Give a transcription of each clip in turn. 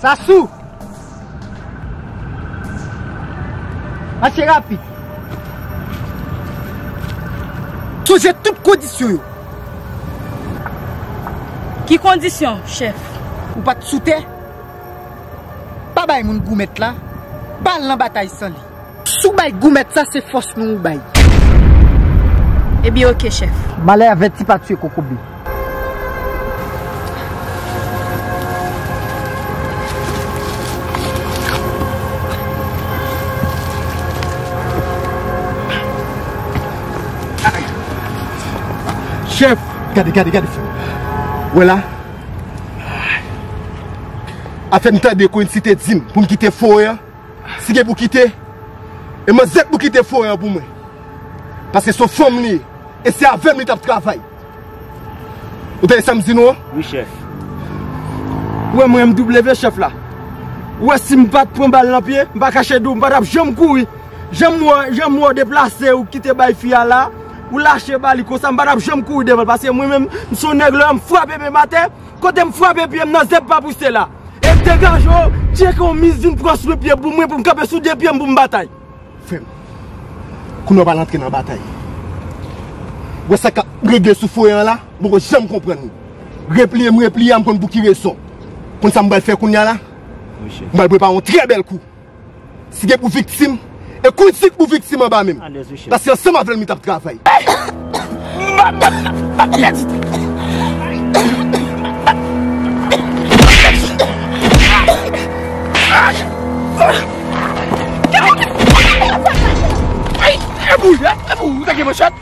Sasou! Mache rapid! Sonje tout kondisyon yo! Ki kondisyon, chèf? Ou pa t sou tè? Pa bay moun goumèt la, pa al nan batay san li. Si w bay goumèt sa, se fòs nou ou bay. Ebyen ok, chèf. Malè avèti pa tiye kokobe. Chèf, gade, gade, gade, chèf. Wè la. Ap fè m tande kwen si te di m pou m kite forè an, si gen pou kite, e manzè k pou kite forè an pou mwen. Paske se yon fanm li ye, e se avè m li t ap travay. Ou tande sa m di nou an? Wi chèf. Ou wè mwen MW chèf la. Ou wè si m pa t pran bal nan pye, m pa kache di w m pa t ap janm kouri. Jan m wè w deplase ou kite bay fi a la, Ou lache ba li konsa m pa tap janm kouri devan l paske mwen menm m son nèg lè m frape pye m atè kote m frape pye m nan zèb pa pouse la. E degaje w tcheke yon miss vin pran swen pye boum mwen pou m kanpe sou 2 pye m pou m batay. Frè m. Kounye w pa al antre nan batay. Ou wè sa kap regle sou foye an la? M poko janm konprann ou. Repliye m repliye a m konn pou ki rezon. Konn sa m pral fè kounye a la? M pral prepare yon trè bèl kou. Si gen pou viktim, e konn si gen pou viktim anba menm. Paske ansanm avèl mi tap travay. Epa ou ta gen manchèt?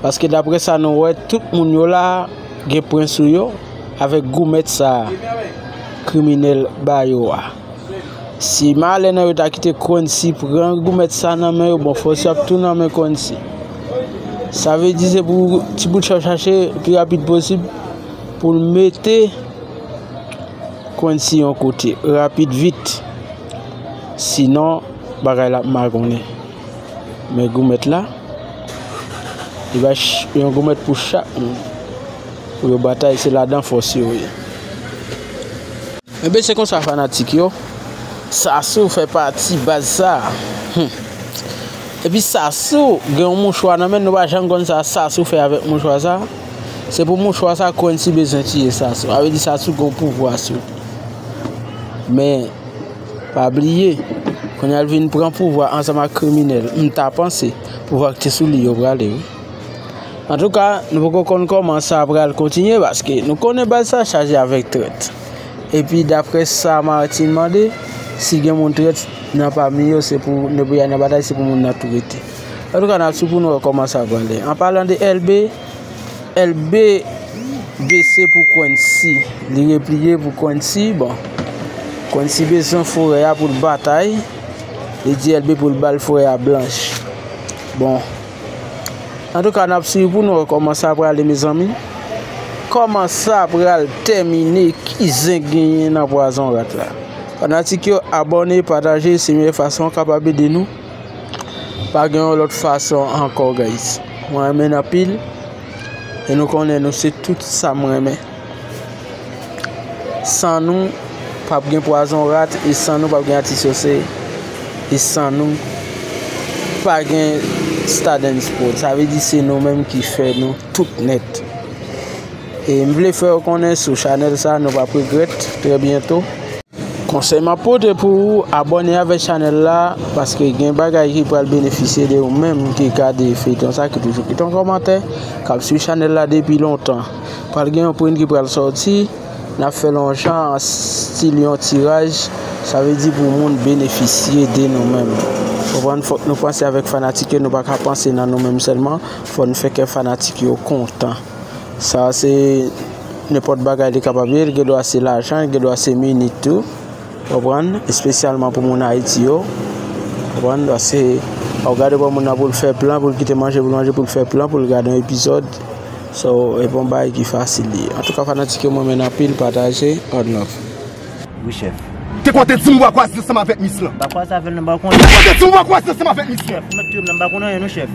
Paske daprè sa nou wè, tout moun yo la gen pwen sou yo avèk goumèt sa kriminèl ba yo a. Si malè nan yo ta kite Kwensi pran goumèt sa nan men yo, bon fòs yo ap tou nan men Kwensi. Sa vle di se pou ti bout chòv chache pi rapid posib pou l mete Kwensi yon kote rapid vit. Sinon bagay la ap magonnen. Men goumèt la, li bay yon goumèt pou chak moun. Pou yo batay, se ladan fòs yo ye. Enben se konsa fanatik yo, Sassou fè pati baz sa. Epi Sassou gen yon mouchwa nan men, nou pa janm konn sa Sassou fè avèk mouchwa sa. Se pou mouchwa sa Kwensi bezwen tiye Sassou. Sa vle di Sassou gen yon pouvwa sou li. Men. Pa bliye, kounye a l vin pran pouvwa ansanm ak kriminèl. M ta panse, pouvwa ki te sou li yo prale wi. An tou ka, nou poko konn koman sa pral kontinye paske nou konnen baz sa chaje avèk trèt. Epi daprè sa Martine mande, si gen moun trèt nan pami yo se pou nèg pou y al nan batay se pou moun nan tou rete. An tou ka n ap swiv pou nou wè koman sa prale. An palan de Elbe. Elbe bese pou Kwensi. Li repliye pou Kwensi. Bon. Kwensi bezwen forè a pou l batay. Li di Elbe pou l bal forè a blanch. Bon. An tou ka nap sui pou nou koman sa apre ale mezanmi. Koman sa apre ale temine ki zen genyen nan pwazon rat la. Fanatik yo abone, pataje, se mye fason kapab ede nou. Pa gen yon lòt fason ankò guys. Mwen renmen anpil. E nou konnen nou se tout sa mwen renmen. San nou pap gen pwazon rat e san nou pap gen atis yo se. E san nou pa gen stadens pou. Sa ve di se nou menm ki fè nou tout net. E m vle fè yo konnen sou chanel sa nou pap regret. Trè bientou. Konsèy map pote pou ou abòne avèk chanèl la paske gen bagay ki pral benefisye de ou menm ki gade feyton sa ki toujou kite yon kòmantè kap swiv chanèl la depi lontan pral gen yon print ki pral sòti nap fè lon jan an stil yon tiraj sa vle di pou moun benefisye de nou menm konprann fòk nou panse avèk fanatik yo nou paka panse nan nou menm sèlman fò nou fè kè fanatik yo kontan. Sa a se nenpòt bagay li kapab ye, li gen dwa se lajan, li gen dwa se minit tou, ou konprann, espesyalman pou moun Ayiti yo, ou konprann, paske ou gade pou moun nan pou l fè plan, pou l kite manje pou l manje, pou l fè plan, pou l gade yon epizòd, so, e pa yon bagay ki fasil li ye. Antouka fanatik yo mwen renmen n anpil, pataje, one love. Wi chèf. Te kwè w te di m bwa kwaze ansanm avèk mis lan. Bwa kwaze avè l nan m pa konn. Te kwè w te di m bwa kwaze ansanm avèk mis lan. Ou mèt touye m la m pa konn anyen non chèf.